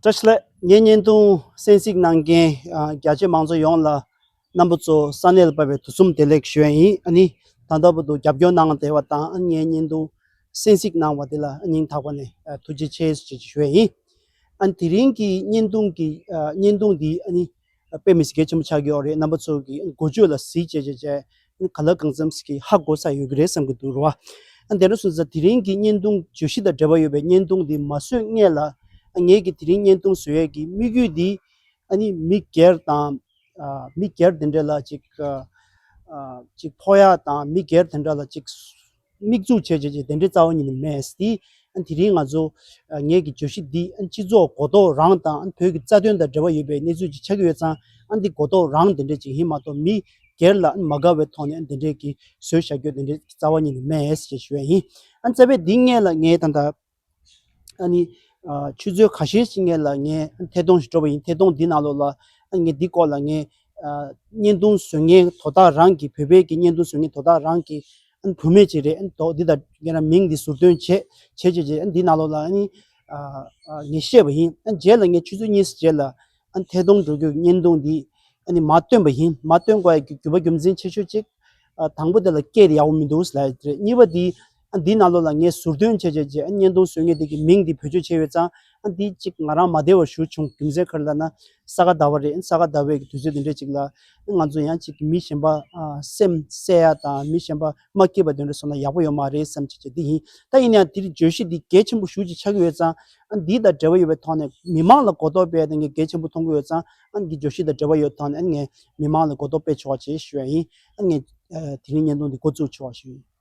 བཀྲ་ཤིས་ལགས་ངས་བརྙན་ཐུང་གསན་གཟིགས་གནང་མཁན་རྒྱ་ཆེ་མང་ཚོགས་ཡོངས་ལ་རྣམ་པ་ཚོ་ས་གནས་ལ་བབས་པའི་དུས་གསུམ་བདེ་ལེགས་ཞུ་ཡ་ཡིན་ཨ་ནི་ད་ལྟ་བར་དུ་རྒྱབ་སྐྱོར་གནང་བསྡད་པ་དང་ངས་བརྙན་ཐུང་གསན་གཟིགས་གནང་བ་དེ་ལ་སྙིང་ཐག་པ་ནས་ཐུགས་རྗེ་ཆེ་ཞུ་ཡ་ཡིན་ཨ་ནི་དེ་རིང་གི་བརྙན་ཐུང་གི་བརྙན་ཐུང་འདི་ཨ་ནི། དཔེ་མི་སྒེར་ཆེན་པོ་ཆགས་ཀྱི་ཡོད་རེད་རྣམ་པ་ཚོ་གི་འགོ་བརྗོད་ལ་གཟིགས་བྱས་བྱས་བྱས་ག་ལ་གང་འཚམས་ཀྱི་ཧ་གོ་ས་ཡོད་ཀྱི་རེད་བསམ་གྱི་འདུག་རོ། དེ་འདྲ་སོང་ཙང་དེ་རིང་གི་བརྙན་ཐུང་བརྗོད་གཞི་དང་འབྲེལ་བ་ཡོད་པའི་བརྙན་ཐུང་འདི་མ་བཟོས་སྔས་ལ་ངས་ཀྱི་དེ་རིང་བརྙན་ཐུང་བཟོ་ཡས་ཀྱི་དམིགས་ཡུལ་འདི་ཨ་ནི་མི་སྒེར་དང་མི་སྒེར་དེ་འདྲ་ལ་ཅིག་ཕོག་ཡ་དང་མི་སྒེར་དེ་འདྲ་ལ་ཅིག། དམིགས་འཛུགས་བྱས་བྱས་བྱས་དེ་འདྲའི་རྩ་བ་ཉིད་ནས་མེད། དེ་རིང་ང་ཚོ་ངེད་ཀྱི་བརྗོད་གཞི་འདི་སྤྱི་ཚོགས་གོ་རྟོགས་རང་དང་བོད་ཀྱི་རྩ་དོན་དང་འབྲེལ་བ་ཡོད་པའི་གནས་ཚུལ་ཅིག་ཆགས་ཀྱི་ཡོད་ཙང་འདི་གོ་རྟོགས་རང་དེ་འདྲའི་ཅིག་ཡིན་མ་གཏོགས་མི་སྒེར་ལ་མ་དགའ་བའི་ཐོག་ནས་འདི་འདྲའི་གིས་བཟོས་བྱ་རྒྱུ་དེ་འདྲའི་རྩ་བ་ཉིད་ནས་མེད། ཅེས་ཞུ་བ་ཡིན། བཙལ་བས་འདི་སྔས་ལ་ངས་ད། ནི། ཆུ་ཚོད་ག་ཤེད་ཅིག་ལ་ངས་ཐད་གཏོང་ཞིག་སྤྲོད་པ་ཡིན། ཐད་གཏོང་འདི་ནང་ལོགས་ལ། ངས་འདི་སྐོར་ལ་ངས། བརྙན་ཐུང་བཟོས་མཁན་དོ་བདག་རང་གིས་བོད་པའི་བརྙན་ཐུང་བཟོས་མཁན་དོ་བདག་རང་གིས། བུད་མེད་ཅིག་རེད། དོ་བདག་འདི་དང་ངས་མིང་འདི་ཟུར་འདོན་བྱས། བྱས་བྱས་བྱས་འདི་ནང་ལོགས་ལ། ངས་བཤད་པ་ཡིན། རྗེས་ལ་ངས་ཆུ་ཚོད་གཉིས་རྗེས་ལ། ཐད་གཏོང་འགྲོ་རྒྱུར་བརྙན་ཐུང་འདི། མ་བཏོན་པ་ཡིན། མ་བཏོན་བར་གྱི་རྒྱུ་བ་རྒྱུ་མཚན་ཆེ་ཤོས་གཅིག། དང་པོ་དེ་ལ་སྐད་དེ་ཡག་པོ་མི་འདུག་ཟེར་ལབ་ཡོད་རེད། གཉིས་པ་འདི། ཨ་འདིའི་ནང་ལོགས་ལ་ངས་ཟུར་འདོན་བྱས་བྱས་རྗེས་ཨ་བརྙན་ཐུང་བཟོས་ངེས་དེ་གི་མིང་འདི་བེད་སྤྱོད་བྱས་ཡོད་ཙང་ཨ་འདིའི་གཅིག་ང་རང་མ་བདེ་བ་ཞུ་བྱུང་རྒྱུ་མཚན་ཁར་ལ་ན་ས་ག་ཟླ་བ་རེད་ས་ག་ཟླ་བའི་གི་དུས་ཚོད་དེ་འདྲས་ཅིག་ལ་ཨ་ང་ཚོ་ཡང་གཅིག་གི་མི་གཞན་པ་སེམས་གསལ་ཡ་དང་མི་གཞན་པ་མ་སྐྱིད་པ་དེ་འདྲས་བཟོ་ན་ཡག་པོ་ཡོད་མ་རེད་བསམ་བྱས་བྱས་འདི་ཡིན་ད་ཡིན་ན་ཡང་འདིར་བརྗོད་གཞི་འདི་གལ་ཆེན་པོ་ཞུ་ཅིག་ཆགས་ཀྱི་ཡོད་ཙང་ཨ་འདི་དང་འབྲེལ་བ་ཡོད་པའི་ཐོག་ནས་མི་མང་ལ་གོ་རྟོགས་སྤེལ་ཡ་དེ་ངས་གལ་ཆེན་པོ་མཐོང་གི་ཡོད་ཙང་ཨ་འདི་བརྗོད་གཞི་དང་འབྲེལ་བ་ཡོད་ཐོག་ནས་ཨ་ངས་མི་མང་ལ་གོ་རྟོགས་སྤེལ་ཆོག་བྱས་ཞུ་ཡ་ཡིན་ཨ་ངས་དེ་རིང་བརྙན་ཐུང་འདི་འགོ་བཙུགས་ཆོག་ཞུ་ཡིན།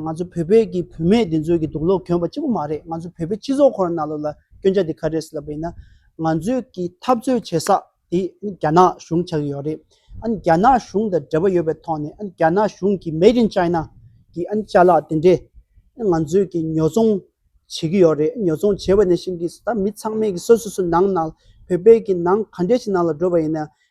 ང་ཚོ་བོད་པའི་གི་བུད་མེད་དེ་ཚོའི་གི་སྡུག་ལོག་གྱོན་པ་གཅིག་པོ་མ་རེད་ང་ཚོ་བོད་པའི་སྤྱི་ཚོགས་ཁོ་ན་ན་ལོ་ལ་སྐྱོན་ཆ་དེ་ག་རེད་ཟེར་ལབ་པ་ཡིན་ན། ང་ཚོའི་གི་འཐབ་རྩོད་བྱེད་ས་དེ་རྒྱ་ནག་གཞུང་ཆགས་ཡོད་རེད། ཨ་ནི་རྒྱ་ནག་གཞུང་དང་འབྲེལ་བ་ཡོད་པའི་ཐོག་ནས་ཨ་ནི་རྒྱ་ནག་གཞུང་གི Made in China གི་ཨ་ནི་བྱ་གླག་དེ་འདྲས་ཨ་ནི་ང་ཚོའི་གི་ཉོ་ཚོང་བྱེད་གི་ཡོད་རེད་ཨ་ཉོ་ཚོང་བྱེད་པ་ནས་བཞིན་གི་ད་མི་ཚང་མས་གི་སོ་སོ་སོ་ནང་ན་བོད་པའི་གི་ནང་ག་འདྲས་ཞིག་ནང་ལ་འགྲོ་བ་ཡིན་ན་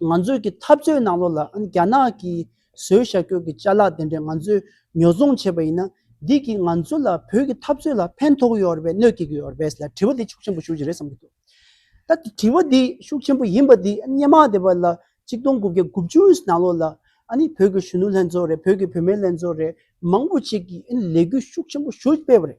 ང་ཚོས་ཀྱི་འཐབ་རྩོད་ནང་ལོགས་ལ་རྒྱ་ནག་གི་བཟོས་ཤ་ཁྱོད་ཀྱི་བཅའ་ལག་དེ་འདྲས་ང་ཚོས་ཉོ་ཚོང་བྱས་པ་ཡིན་ན། འདི་གིས་ང་ཚོ་ལ་བོད་ཀྱི་འཐབ་རྩོད་ལ་ཕན་ཐོགས་ཡོད་རེད་པས་གནོད་སྐྱེལ་གྱི་ཡོད་རེད་པས་ལ་དྲི་བ་འདི་ཤུགས་ཆེན་པོ་ཞུ་རྒྱུ་རེད་བསམ་གྱི་འདུག་ད་དེ་དྲི་བ་འདི་ཤུགས་ཆེན་པོ་ཡིན་པ་འདི་སྙེ་མ་དེ་བ་ལ་གཅིག་སྟོང་དགུ་བརྒྱ་དགུ་བཅུ་ནང་ལོགས་ལ་བོད་ཀྱི་གཞོན་ནུ་ལྷན་ཚོགས་རེད་བོད་ཀྱི་བུད་མེད་ལྷན་ཚོགས་རེད་མང་པོ་ཞིག་གིས་ལས་འགུལ་ཤུགས་ཆེན་པོ་ཞུ་སྤེལ་བ་རེད།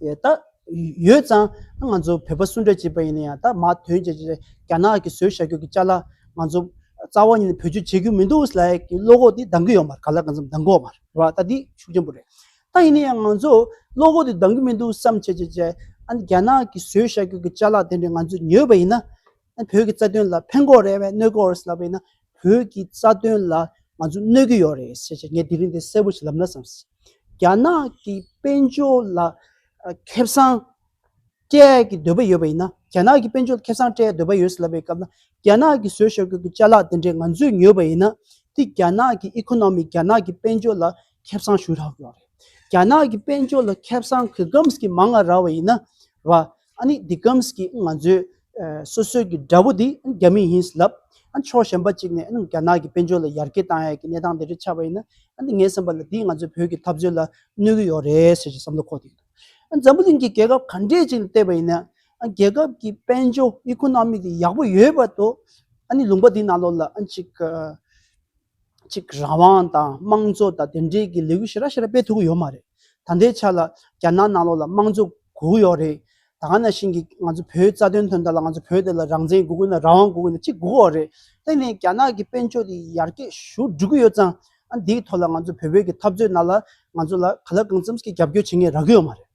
ད་ཡོད་ཙང་ང་ཚོ་བོད་པ་གསུམ་གྲས་བྱས་པ་ཡིན་ན་ཡང་ད་མ་དོན་ཅེ་ཅེ་རྒྱ་ནག་གིས་བཟོས་བྱ་རྒྱུ་གི་ལྕགས་ལ་ང་ཚོ་རྩ་བ་ཉིད་ནས་བེད་སྤྱོད་བྱེད་རྒྱུ་མི་འདུག་ཟེར་ལ་ཡ་གི་བློ་ཁོག་དེ་འདང་གི་ཡོད་མ་རེད་ག་ལ་གང་འཚམ་འདང་གི་འོ་མ་རེད་རེད་བ་ད་འདི་ཤུགས་ཆེན་པོ་རེད། ད་ཡིན་ན་ཡང་ང་ཚོ་བློ་ཁོག་དེ་འདང་གི་མི་འདུག་བསམ་བྱས་བྱས་བྱས་ཨ་ནི་རྒྱ་ནག་གིས་བཟོས་བྱ་རྒྱུ་གི་ལྕགས་ལ་དེ་འདྲ་ང་ཚོ་ཉོས་པ་ཡིན་ན་བོད་ཀྱི་རྩ་དོན་ལ་ཕན་གོ་རེད་བས་གནོད་གོ་རེད་ལབ་པས་ན་བོད་ཀྱི་རྩ་དོན་ལ་ང་ཚོ་གནོད་ཀྱི་ཡོད་རེད་ཞེས་བྱས་ངས་དེ་རིང་འདི་གསལ་པོ་ཞིག་ལབ་ན་བསམ་སྲིད། རྒྱ་ནག་གི་དཔལ་འབྱོར་ལ་ཁེ་བཟང་སྤྲད་ཀྱི་འདོད་པ་ཡོད་པ་ཡིན་ན་རྒྱ་ནག་གི་དཔལ་འབྱོར་ལ་ཁེ་བཟང་སྤྲད་འདོད་པ་ཡོད་ལབ་པའི་སྐབས་ན་རྒྱ་ནག་གི་བཟོས་ཤོག་ཁྱོད་ཀྱི་བཅའ་ལག་དེ་འདྲས་ང་ཚོས་ཉོས་པ་ཡིན་ན་དེ་རྒྱ་ནག་གི་ཨི་ཁོ་ནོ་མི་རྒྱ་ནག་གི་དཔལ་འབྱོར་ལ་ཁེ་བཟང་ཞུ་རག་ཡོད་རེད། རྒྱ་ནག་གི་དཔལ་འབྱོར་ལ་ཁེ་བཟང་གི་གམས་ཀྱི་མང་ང་རག་བ་ཡིན་ན་ར། ཨ་ནི་འདི་གམ་གྱི་ང་ཚོའི་སོ་སོའི་གི་དགྲ་བོ་འདི་རྒྱ་མི་ཡིན་ལབ། ཕྱོགས་གཞན་པ་གཅིག་ནས་རྒྱ་ནག་གི་དཔལ་འབྱོར་ལ་ཡར་རྒྱས་གཏང་ཡག་གི་གནས་སྟངས་དེ་འདྲ་ཆགས་པ་ཡིན་ན། ངའི་བསམ་པ་ལ་འདིས་ང་ཚོའི་བོད་ཀྱི་འཐབ་རྩོད་ལ་གནོད་གི་ཡོག་རེད་ཟེར་གྱི་བསམ་བློ་འཁོར་ཐིག་འདུག། འཛམ་བུ་གླིང་གི་རྒྱལ་ཁབ་ག་འདྲས་ཅིག་ལ་བལྟས་པ་ཡིན་ན། རྒྱལ་ཁབ་ཀྱི་དཔལ་འབྱོར་ཨི་ཁོ་ནོ་མིག་དེ་ཡག་པོ་ཡོད་པ་དོ། ཨ་ནི་ལུང་པ་འདི་ནང་ལོགས་ལ་ཅིག། ཅིག་རང་དབང་དང་དམངས་གཙོ་དང་དེ་འབྲེལ་གྱི་ལས་འགུལ་ཞེ་རགས་ཞེ་རགས་སྤེལ་ཐུབ་ཀྱི་ཡོད་མ་རེད། ད་ལྟའི་ཆ་ལ་རྒྱ་ནག་ནང་ལོགས་ལ་དམངས་གཙོ་དགོས་ཀྱི་ཡོད་རེད། ད་ག་ནང་བཞིན་གྱི་ང་ཚོ་བོད་རྩ་དོན་དོན་དག་ལ་ང་ཚོ་བོད་དེ་ལ་རང་བཙན་དགོས་ཀྱི་ཡོད་ན་རང་དབང་དགོས་ཀྱི་ཡོད་ན་ཅིག་དགོས་ཀྱི་ཡོད་རེད། དེ་ནས་རྒྱ་ནག་གི་དཔལ་འབྱོར་དེ་ཡར་རྒྱས་ཞུ་འགྲོ་གི་ཡོད་ཙང། ཨ་འདིའི་ཐོག་ལ་ང་ཚོ་བོད་བོད་ཀྱི་འཐབ་རྩོད་ནང་ལ་ང་ཚོ་ལ་ག་ལ་གང་འཚམས་ཀྱི་རྒྱབ་སྐྱོར་བྱེད་མཁན་རག་གི་ཡོད་མ་རེད།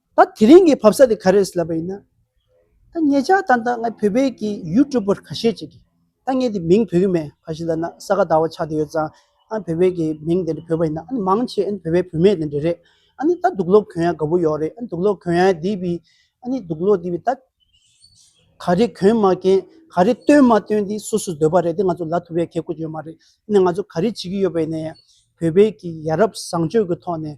ད་དེ་རིང་གི་བབས་ས་དེ་ག་རེད་ཟེར་ལབ་པ་ཡིན་ན། ད་ངེད་ཅག་ད་ལྟ་ང་བོད་པའི་གི YouTuber ཁ་ཤས་ཅིག་གིས་ད་ངེད་དེ་མིང་བོད་ཀྱི་མེད་ཁ་ཤས་ལ་ན་ས་ག་ཟླ་བ་ཆགས་དེ་ཡོད་ཙང་ཨ་བོད་པའི་གི་མིང་དེ་འདྲ་བོད་པ་ཡིན་ན་ཨ་ནི་མང་ཆེ་ཨ་ནི་བོད་པའི་བུད་མེད་དེ་འདྲ་རེད་ཨ་ནི་ད་དུག་ལོག་གོན་ཡ་ག་པོ་ཡོག་རེད་ཨ་ནི་དུག་ལོག་གོན་ཡ་དེ་བི་ཨ་ནི་དུག་ལོག་དེ་བི་ད་ག་རེ་གོན་མ་གན་ག་རེ་སྟོན་མ་སྟོན་དེ་སུ་སུ་འདོད་པ་རེད་དེ་ང་ཚོ་ལ་ཐུབ་ཡ་གས་ཁུ་ཅི་ཡོད་མ་རེད་ཨ་ནི་ང་ཚོ་ག་རེ་བྱེད་ཀྱི་ཡོད་པ་ཡིན་ན་ཡང་བོད་པའི་གི་ཡ་རབས་བཟང་སྤྱོད་གི་ཐོག་ནས།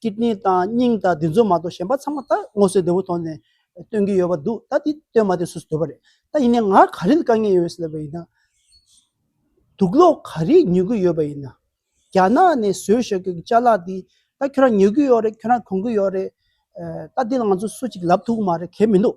ཀི་ཏནི་དང་སྙིང་དང་དེ་ཚོ་མ་གཏོགས་གཞན་པ་ཚང་མ་ད་སྔོ་སེར་དེ་བོ་ཐོག་ནས་སྟོན་གྱི་ཡོད་པ་འདུག་ད་དེ་སྟོན་མ་དེ་སུས་སུ་སྡོད་པ་རེད་ད་ཡིན་ནའི་ང་ག་རེ་ལ་དཀའ་ངལ་ཡོད་ཟེར་བ་ཡིན་ན། དུག་གློག་ག་རེ་ཉོ་གི་ཡོད་པ་ཡིན་ན། རྒྱ་ནག་ནས་བཟོས་ཞོག་གི་བཅའ་ལག་དེ་ད་ཁྱོད་རང་ཉོ་གི་ཡོད་རེད་ཁྱོད་རང་གོན་གྱི་ཡོད་རེད། ད་དེ་ལ་ང་ཚོ་སུ་གཅིག་ལབ་ཐུག་གི་མ་རེད་གལ་མི་འདུག་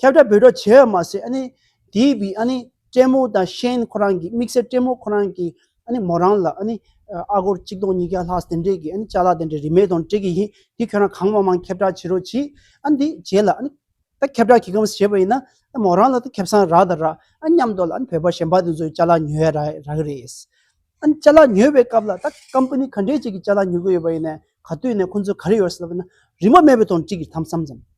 ཁྱབ་བསྒྲགས་འབུལ་གྲབས་བྱས་པ་མ་ཟད་དེའི་བུའི་སྤྲད་མོ་དང་གཤེན་ཁོ་རང་གི་དམིགས་བསལ་སྤྲད་མོ་ཁོ་རང་གི་མོ་རང་ལ་ཨ་སྒོར་གཅིག་སྟོང་ཉིས་བརྒྱ་ལྷག་དེ་འདྲས་ཀྱི་བཅའ་ལག་དེ་འདྲས་རིན་མེད་དང་སྤྲད་ཀྱི་ཡིན་དེ་ཁྱོད་རང་གང་མང་མང་ཁྱབ་བསྒྲགས་བྱེད་རོགས་གྱིས་ཨ་འདི་བྱས་ལ་ད་ཁྱབ་བསྒྲགས་ཁྱེད་ཀྱིས་བྱས་པ་ཡིན་ན་མོ་རང་ལ་ད་ཁྱབ་སངས་རག་དང་རག་ཨ་སྙམ་དུ་ལ་བོད་པ་གཞན་པ་དེ་ཚོའི་བཅའ་ལག་ཉོས་ཡ་རག་གི་རེད། བཅའ་ལག་ཉོས་པའི་སྐབས་ལ་ད company ག་འདྲས་ཅིག་གི་བཅའ་ལག་ཉོ་གི་ཡོད་པ་ཡིན་ན་ག་དུས་ནས་ཁོང་ཚོ་ག་རེ་ཡོད་ཟེར་ལབ་ན་རིན་མ་མེད་པའི་དང་སྤྲིག་གི་དམ་བསམ་ཙམ།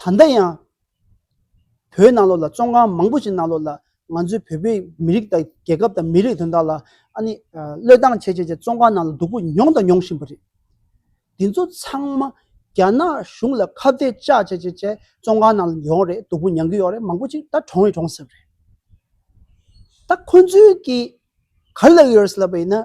ད་ལྟ་ཡང་བོད་ནང་ལོགས་ལ་བཙོན་ཁང་མང་པོ་ཞིག་ནང་ལོགས་ལ་ང་ཚོའི་བོད་པའི་མི་རིགས་དང་རྒྱལ་ཁབ་དང་མི་རིགས་དོན་དག་ལ་ཨ་ནི་བློས་བཏང་བྱས་བྱས་བྱས་བཙོན་ཁང་ནང་ལ་སྡུག་པོ་མྱོང་དང་མྱོང་བཞིན་པ་རེད། དེ་ཚོ་ཚང་མ་རྒྱ་ནག་གཞུང་ལ་ཁ་བརྡའི་བཅག་བྱས་བྱས་བྱས་བཙོན་ཁང་ནང་ལ་ཡོང་རེད་སྡུག་པོ་མྱང་གི་ཡོང་རེད་མང་པོ་ཅིག་ད་གྲོངས་ཡི་གྲོངས་ཟེར་རེད། ད་ཁོ་ཚོའི་གི་ག་ལེར་ཡོད་རེད་ལབ་པ་ཡིན་ན།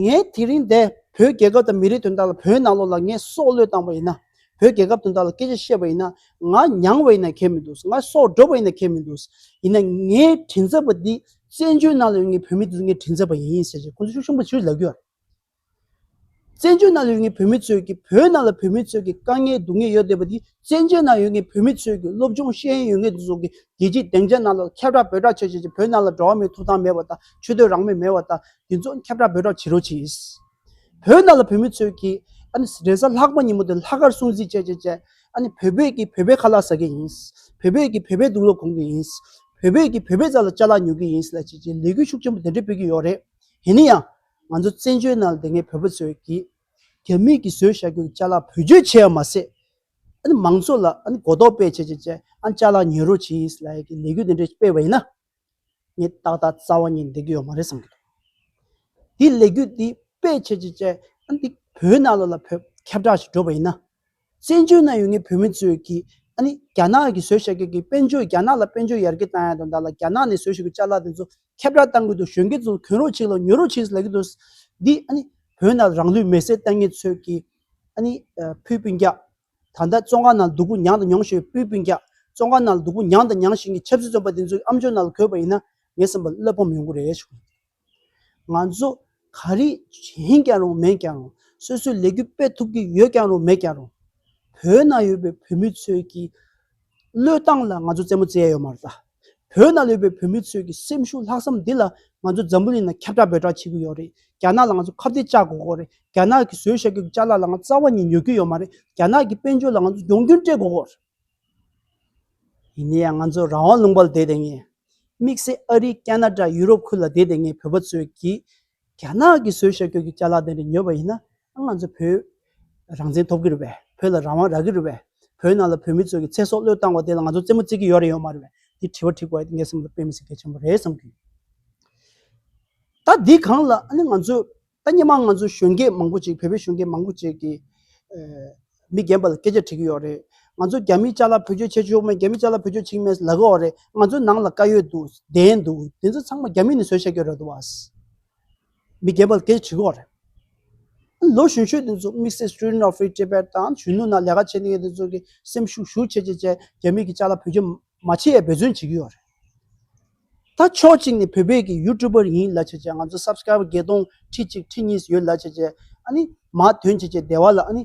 ངས་དེ་རིང་འདས་བོད་རྒྱལ་ཁབ་དང་མི་རིགས་དོན་དག་ལ་བོད་ནང་ལོགས་ལ་ངས་སྲོག་བློས་བཏང་བ་ཡིན་ན། བོད་རྒྱལ་ཁབ་དོན་དག་ལ་སྐད་ཆ་བཤད་པ་ཡིན་ན། ང་མྱངས་བ་ཡིན་ན་གལ་མི་འདུག་ང་སྲོག་སྒྲོག་པ་ཡིན་ན་གལ་མི་འདུག་ཡིན་ན་ངའི་དྲིན་ཚབ་པ་འདི་བཙན་བྱོལ་ནང་ལ་ཡོད་ངའི་བོད་མི་འདི་ཚོ་ངའི་དྲིན་ཚབ་པ་ཡིན་ཟེར་ཞེས་ཁོང་ཚོ་ཤུགས་ཆེན་པོ་བྱེད་རྒྱུ་ལབ་རྒྱུ། བཙན་བྱོལ་ནང་ཡོད་ངེས་བོད་མི་ཚོས་ཀྱི་བོད་ནང་ལ་བོད་མི་ཚོས་ཀྱི་དཀའ་ངལ་སྡུག་ངལ་ཡོད་བསྡད་པ་འདི་བཙན་བྱོལ་ནང་ཡོད་ངེས་བོད་མི་ཚོས་ཀྱི་སློབ་སྦྱོང་ཤེས་ཡོན་ཡོད་ངེས་འདི་ཚོ་གི་རྒྱལ་སྤྱིའི་སྡེང་ཆ་ནང་ལ་ཁྱབ་བསྒྲགས་འབོད་བསྒྲགས་བྱས་བྱས་བྱས་བོད་ནང་ལ་འགྲོ་བ་མིའི་ཐོབ་ཐང་མེད་པ་དང་ཆོས་དོན་རང་མོས་མེད་བ་དང་འདི་ཚོ་ཁྱབ་བསྒྲགས་འབོད་བསྒྲགས་བྱེད་རོགས་གྱིས། བོད་ནང་ལ་བོད་མི་ཚོས་ཀྱི་ཨ་ནི་རེས་གཟའ་ལྷག་པ་ཉིན་མོ་དེ་ལྷག་དཀར་སྲུང་བརྩི་བྱས་བྱས་བྱས་ཨ་ནི་བོད་པས་ཀྱི་བོད་པའི་ཁ་ལག་ཟ་གི་ཡིན། བོད་པས་ཀྱི་བོད་པའི་སྡུག་ལོག་གོང་གི་ཡིན། བོད་པས་ཀྱི་བོད་པའི་རྩ་ལ་ལྕགས་ལ་ཉོ་གི་ཡིན་ལ་བྱས་བྱས་ལས་འགུལ་ཤུགས་ཆེན་པོ་དེ་འདྲས་སྤེལ་གྱི་ཡོད་རེད། ཡིན་ནའང། ང་ཚོ་བཙན་བྱོལ་ནང་ལ་དེ་སྔའི་བོད་པ་ཚོས་ཀྱིས་རྒྱ་མིས་ཀྱིས་བཟོས་བྱ་རྒྱུ་ལྕགས་ལག་བོད་བརྒྱུད་བྱས་པ་མ་ཟད། ཨ་ནི་མང་ཚོགས་ལ་ཨ་ནི་གོ་རྟོགས་སྤེལ་བྱེད་ཅེས་བྱས་ཨ་ནི་ལྕགས་ལག་ཉོས་རོགས་བྱས་ལ་ཡི་གེ་ལས་འགུལ་དེ་འདྲ་སྤེལ་བ་ཡིན་ན། ངས་ཏག་ཏག་རྩ་བ་ཉིད་འགྲིག་གི་ཡོད་མ་རེད་བསམ་གྱི་འདུག་དེའི་ལས་འགུལ་དེ་སྤེལ་བྱེད་ཅེས་བྱས་ཨ་ནི་འདི་བོད་ནང་ལ་ལ་བོད་ཁྱབ་བསྒྲགས་ཞིག་བསྒྲུབས་པ་ཡིན་ན། བཙན་བྱོལ་ནང་ཡོད་ངེས་བོད་མི་ཚོས་ཀྱིས་ཨ་ནི་རྒྱ་ནག་གིས་བཟོས་བྱས་ཀྱི་གིས་དཔལ་འབྱོར་རྒྱ་ནག་ལ་དཔལ་འབྱོར་ཡར་རྒྱས་བཏང་ཡ་དང་བདག་ལ་རྒྱ་ནག་ནས་བཟོས་བྱས་ཀྱི་བཅའ་ལག་དེ་ཚོ་ཁྱབ་བསྒྲགས་བཏང་གི་འདུག་གཞོན་སྐྱེས་ཚོ་གྱོན་རོགས་བྱེད་ལ་ཉོ་རོགས་བྱེད་ཟེར་ལབ་ཀྱི་འདུག་འདི་ཨ་ནི་བོད་ནང་རང་ལུས་མེ་སྲེག་བཏང་ངེས་ཚོས་ཀྱིས་ཨ་ནི་ཕུའི་སྤུན་རྒྱག་ད་ལྟ་བཙོང་ཁང་ནང་སྡུག་པོ་མྱངས་དང་མྱོང་བཞིན་ཡོད་ཕུའི་སྤུན་རྒྱག་བཙོང་ཁང་ནང་སྡུག་པོ་མྱངས་དང་མྱངས་བཞིན་གྱི་ཆབ་སྲིད་བཙོན་པ་དེ་ཚོ་ཀྱི་ཨམ་ཅོག་ནང་ལ་གོས་པ་ཡིན་ན་ངས་བསམ་པ་བློས་ཕམ་ཡོང་གི་རེད་བྱུང། ང་ཚོ་ག་རེ་བྱེད་ཀྱང་རུང་མེད་ཀྱང་རུང་སོ་སོའི་ལས་འགུལ་སྤེལ་ཐུབ་ཀྱི་ཡོད་ཀྱང་རུང་མེད་ཀྱང་རུང། བོད་ནང་ཡོད་པའི་བོད་མི་ཚོའི་ཀྱི་བློས་བཏང་ལ་ང་ཚོ་རྩེད་མོ་རྩེ་ཡ་ཡོད་མ་རེད། བོད་ནང་ལོས་པའི་བོད་མི་ཚོའི་ཀྱི་སེམས་ཤུགས་ལྷག་བསམ་འདི་ལ་ང་ཚོ་འཛམ་བུ་གླིང་ནང་ཁྱབ་བསྒྲགས་འབོད་བསྒྲགས་བྱེད་ཀྱི་ཡོད་རེད། རྒྱ་ནག་ལ་ང་ཚོ་ཁ་བརྡའི་ལྕག་དགོ་དགོ་རེད། རྒྱ་ནག་གི་བཟོས་བཞག་གི་ལྕག་ལ་ལ་ང་རྩ་བ་ཉིད་ཉོ་གི་ཡོད་མ་རེད། རྒྱ་ནག་གི་དཔལ་འབྱོར་ལ་ང་ཚོ་ཡོང་རྒྱུན་སྤྲད་དགོ་དགོ་རེད། ཡིན་ན་ཡང་ང་ཚོ་རང་དབང་ལུང་པར་བསྡད་དེ་ངས། དམིགས་བསལ་ཨ་རི་ཀ་ན་ཀྲ་ཡུ་རོབ་ཁུལ་ལ་བསྡད་དེ་ངས་བོད་པ་ཚོས་ཀྱིས་རྒྱ་ནག་གི་བཟོས་ཤོག་གྱོགས་ཀྱི་བཅའ་ལག་དེ་འདྲ་ཉོས་པ་ཡིན་ན་ང་ཚོ་བོད་རང་བཙན་ཐོབ་གི་རེད་པས་བོད་ལ་རང་དབང་རག་གི་རེད་པས་བོད་ནང་ལ་བོད་མི་ཚོས་ཀྱི་ཚེ་སྲོག་བློས་བཏང་བ་དེ་ལ་ང་ཚོ་རྩེད་མོ་རྩེད་ཀྱི་ཡོད་རེད་ཡོད་མ་རེད་པས་འདི་དྲི་བ་དྲི་དགོས་ཨ་ཏི་ངའི་སེམས་ལ་དཔེ་མི་སྲིད་གལ་ཆེན་པོ་རེད་བསམ་གི་ཡོད། ད་འདི་གང་ལ་ཨ་ནི་ང་ཚོས་ད་སྙན་མང་ང་ཚོའི་གཞོན་སྐྱེས་མང་པོ་ཅིག་བོད་པའི་གཞོན་སྐྱེས་མང་པོ་ཅིག་གིས་མི་རྒན་པ་ལ་སྐད་ཆ་དྲི་གི་ཡོད་རེད། ང་ཚོ་རྒྱ་མི་ཅག་ལ་བོད་ཆོས་འཆད་ཆོག་མེད་རྒྱ་མི་ཅག་ལ་བོད་ཆོས་འཆིང་མེད་ལབ་གི་འོ་རེད་ང་ཚོའི་ནང་ལ་བཀའ་ཡོད་འདུག་བདེན་འདུག་དེ་ཚོ་ཚང་མ་རྒྱ་མི་ནས་བཟོས་བཤད་ཀྱི་རེད་འདུག་བ། མི་རྒན་པ་ལ་སྐད་ཆ་དྲི་གི་འོ་རེད། ལོ་གཞོན་ཤོས་དེ་ཚོ་དམིགས་བསལ Student of Free Tibet དང་གཞོན་ནུ་ནང་ལས་ཀ་བྱེད་ནས་ཡོད་དེ་ཚོ་གིས་སེམས་ཤུགས་ཤུགས་ཆེ་ཆེ་བྱས་རྒྱ་མི་གི་ཅག་ལ་བོད་ཆོས་མ་འཆད་ཡ་འབད་བརྩོན་བྱེད་ཀྱི་ཡོད་རེད། ད་ཕྱོགས་གཅིག་ནས་བོད་པའི་གི་ཡུ་ཏུ་པར་ཡིན་ལ་བྱས་བྱས་ང་ཚོ་སབ་སྐྲ་བ་བརྒྱད་སྟོང་ཁྲི་གཅིག་ཁྲི་གཉིས་ཡོད་ལ་བྱས་བྱས་ཨ་ནི་མ་དོན་བྱས་བྱས་སྡེ་བ་ལ་ཨ་ནི།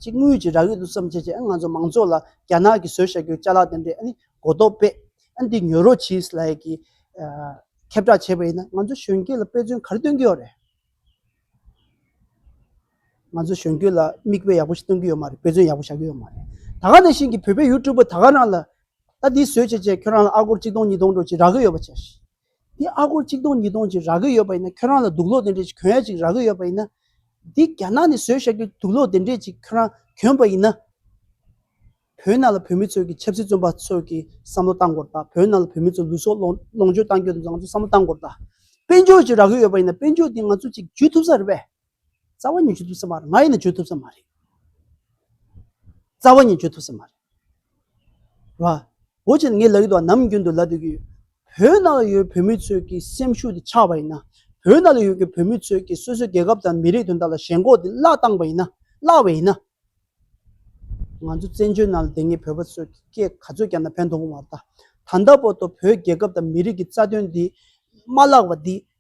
ཅིག་དངུལ་གྱི་རག་ཡོད་དུ་བསམ་བྱས་བྱས་ཨ་ནི་ང་ཚོ་མང་ཚོགས་ལ་རྒྱ་ནག་གི་བཟོས་བྱ་རྒྱུ་བཅའ་ལག་དེ་འདྲས་ཨ་ནི་གོ་རྟོགས་པས་ཨ་ནི་འདི་ཉོ་རོགས་གྱིས་ལ་ཡི་གི། ཁྱབ་བསྒྲགས་བྱས་པ་ཡིན་ན་ང་ཚོ་གཞོན་སྐྱེས་ལ་དཔེ་མཚོན་ག་རེ་སྟོན་གྱི་ཡོད་རེད། ང་ཚོ་གཞོན་སྐྱེས་ལ་མིག་དཔེ་ཡག་པོ་ཞིག་སྟོན་གྱི་ཡོད་མ་རེད་དཔེ་མཚོན་ཡག་པོ་བྱ་གི་ཡོད་མ་རེད། ད་ག་དེ་བཞིན་གི་བོད་པའི་ཡུ་ཏུ་པར་ད་ག་རང་ལ་ད་འདི་བཟོས་བྱས་བྱས་ཁྱོད་རང་ལ་ཨ་སྒོར་གཅིག་སྟོང་གཉིས་སྟོང་འགྲོ་ཅིག་རག་གི་ཡོད་པ་བྱས། འདི་ཨ་སྒོར་གཅིག་སྟོང་གཉིས་སྟོང་ཅིག་རག་གི་ཡོད་པ་ཡིན་ན་ཁྱོད་རང་ལ་དུག་ལོག་དེ་འདྲས་ཅིག་གྱོན་ཡ་ཅིག་རག་གི་ཡོད་པ་ཡིན་ན། འདི་རྒྱ་ནག་ནས་བཟོས་བྱས་ཀྱི་དུག་ལོག་དེ་འདྲས་ཅིག་ཁྱོད་རང་གྱོན་པ་ཡིན་ན། བོད་ནང་ལ་བོད་མི་ཚོས་ཀྱི་ཆབ་སྲིད་བཙོན་པ་ཚོས་ཀྱི་བསམ་བློ་གཏང་དགོར་ད་བོད་ནང་ལ་བོད་མི་ཚོས་ལུས་སྲོག་ལོངས་སྤྱོད་གཏང་རྒྱུ་དང་བཟང་ཚོ་བསམ་བློ་གཏང་དགོར་ད། དཔལ་འབྱོར་ཅིག་རག་གི་ཡོད་པ་ཡིན་ན་དཔལ་འབྱོར་འདི་ང་ཚོ་ཅིག་ཇུས་ཐུབ་ས་རེད་པས། རྩ་བ་ཉིད་བརྗོད་ཐུབ་ས་མ་རེད། ང་ཡིན་ན་བརྗོད་ཐུབ་ས་མ་རེད། རྩ་བ་ཉིད་བརྗོད་ཐུབ་ས་མ་རེད། རེད་བ། འོ་ཅེ་ངས་ལབ་ཡི་འདུག་བ་ནམ་རྒྱུན་དུ་ལབ་སྡོད་ཀྱི་ཡོད། བོད་ནང་ལ་ཡོད་བོད་མི་ཚོས་ཀྱི་སེམས་ཤུགས་དེ་ཆགས་པ་ཡིན་ན། བོད་ནང་ལ་ཡོད་ཀྱི་བོད་མི་ཚོས་ཀྱི་སོ་སོའི་རྒྱལ་ཁབ་དང་མི་རིགས་དོན་དག་ལ་ཞེན་ཁོག་དེ་བརླག་བཏང་བ་ཡིན་ན། བརླག་བས་ཡིན་ན། ང་ཚོ་བཙན་བྱོལ་ནང་ལ་བསྡད་ངེས་བོད་པ་ཚོས་ཀྱི་སྐད་ག་ཚོད་རྒྱབ་ན་ཕན་ཐོག་མ་མ་རེད་ད། ད་ལྟ་བར་དུ་བོད་རྒྱལ་ཁབ་དང་མི་རིགས་ཀྱི་རྩ་དོན་འདི་མ་བརླག་བ་འདི་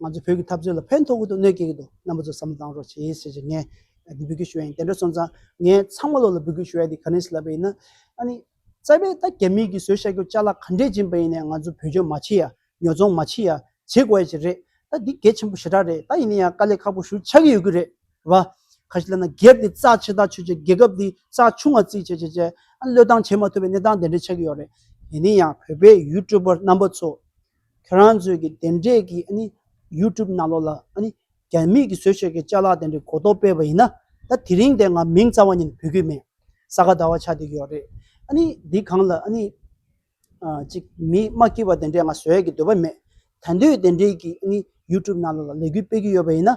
ང་ཚོ་བོད་ཀྱི་འཐབ་རྩོད་ལ་ཕན་ཐོགས་ཀྱི་འདུག་གནོད་སྐྱེལ་གྱི་འདུག་རྣམ་པ་ཚོ་བསམ་བློ་གཏང་རོགས་བྱེད་ཞེས་ཞེས་ངས་འདི་འབོད་སྐུལ་ཞུ་བ་ཡིན་དེ་འདྲ་སོང་ཙང་ངས་ཚང་མ་བློ་ལ་འབོད་སྐུལ་ཞུ་ཡ་དེ་ག་ནས་ལབ་པ་ཡིན་ན། ཨ་ནི། རྩ་བའི་ད་རྒྱ་མིས་ཀྱིས་བཟོས་ཤ་ཁྱོ་ལྕགས་ལ་ག་འདྲས་སྦྱིན་པ་ཡིན་ནས་ང་ཚོ་བོད་ལྗོངས་མ་ཕྱི་ཡ་ཉོ་ཚོང་མ་ཕྱི་ཡ་བྱེད་དགོས་ཡ་ཅིག་རེད་ད་འདི་གལ་ཆེན་པོ་ཞེ་དྲག་རེད་ད་ཡིན་ན་ཡང་དཀའ་ལས་ཁག་པོ་ཞུ་ཆགས་ཀྱི་ཡོད་ཀྱི་རེད་བ། ག་ཞིག་ལབ་ན་སྒེར་དེ་རྩ་ཆེ་ད་ཆོས་ཅེས་རྒྱལ་ཁབ་དེ་རྩ་ཆུང་ང་རྩིས་བྱེད་བྱེད་བྱེད་ཨ་ནི་བློས་བཏང་བྱེད་མ་ཐུབ་པའི་གནས་སྟངས་དེ་འདྲ་ཆགས་ཀྱི་ཡོད་རེད། དེ་ནས་ཡང་བོད་པའི་ཡུལ་གྲུ་པར་རྣམ་པ་ཚོ། ཁྱོད་རང་ཚོས་ཀྱི་དེ་འདྲས་ཀྱི་ཨ་ནི་ཡུ་ཀྲུབ་ནང་ལོགས་ལ་ཨ་ནི་རྒྱ་མིས་ཀྱི་བཟོས་བྱས་ཀྱི་བཅའ་ལག་དེ་འདྲས་གོ་ལྡོག་སྤེལ་བ་ཡིན་ན་ད་དེ་རིང་དེ་ང་མིང་རྩ་བ་ཉིད་འབུད་གི་མེད་ས་ག་ཟླ་བ་ཆགས་བསྡད་ཀྱི་ཡོག་རེད་ཨ་ནི་འདི་གང་ལ་ཨ་ནི་ཅིག་མི་དམག་སྐྱིད་པ་དེ་འདྲས་ང་བཟོས་ཀྱི་འདོད་པ་མེད་ད་འདོད་དེ་འདྲས་ཀྱི་ཨ་ནི་ཡུ་ཀྲུབ་ནང་ལོགས་ལ་ལས་འགུལ་སྤེལ་གྱི་ཡོད་པ་ཡིན་ན།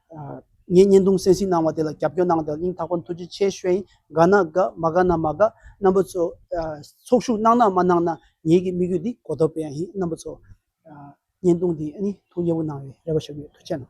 ངས་བརྙན་ཐུང་གསན་གཟིགས་གནང་བ་དེ་ལ་རྒྱབ་སྐྱོར་གནང་དེ་ལ་སྙིང་ཐག་པ་མཐུ་ཆེ་ཆེ་ཞུ་ཡིན་དགའ་ན་དགའ་མ་དགའ་ན་མ་དགའ་རྣམ་པ་ཚོ་ཚོགས་ཞུགས་གནང་ན་མ་གནང་ན་ངེད་ཀྱི་དམིགས་ཡུལ་འདི་གོ་ཐོབ་པ་ཡང་ཡིན་རྣམ་པ་ཚོ་བརྙན་ཐུང་འདི་ཨ་ནི་ཐུགས་མཉེས་པོ་གནང་བའི་རེ་བ་ཞུ་གི་ཡོད་མཐུ་ཆེ་གནང།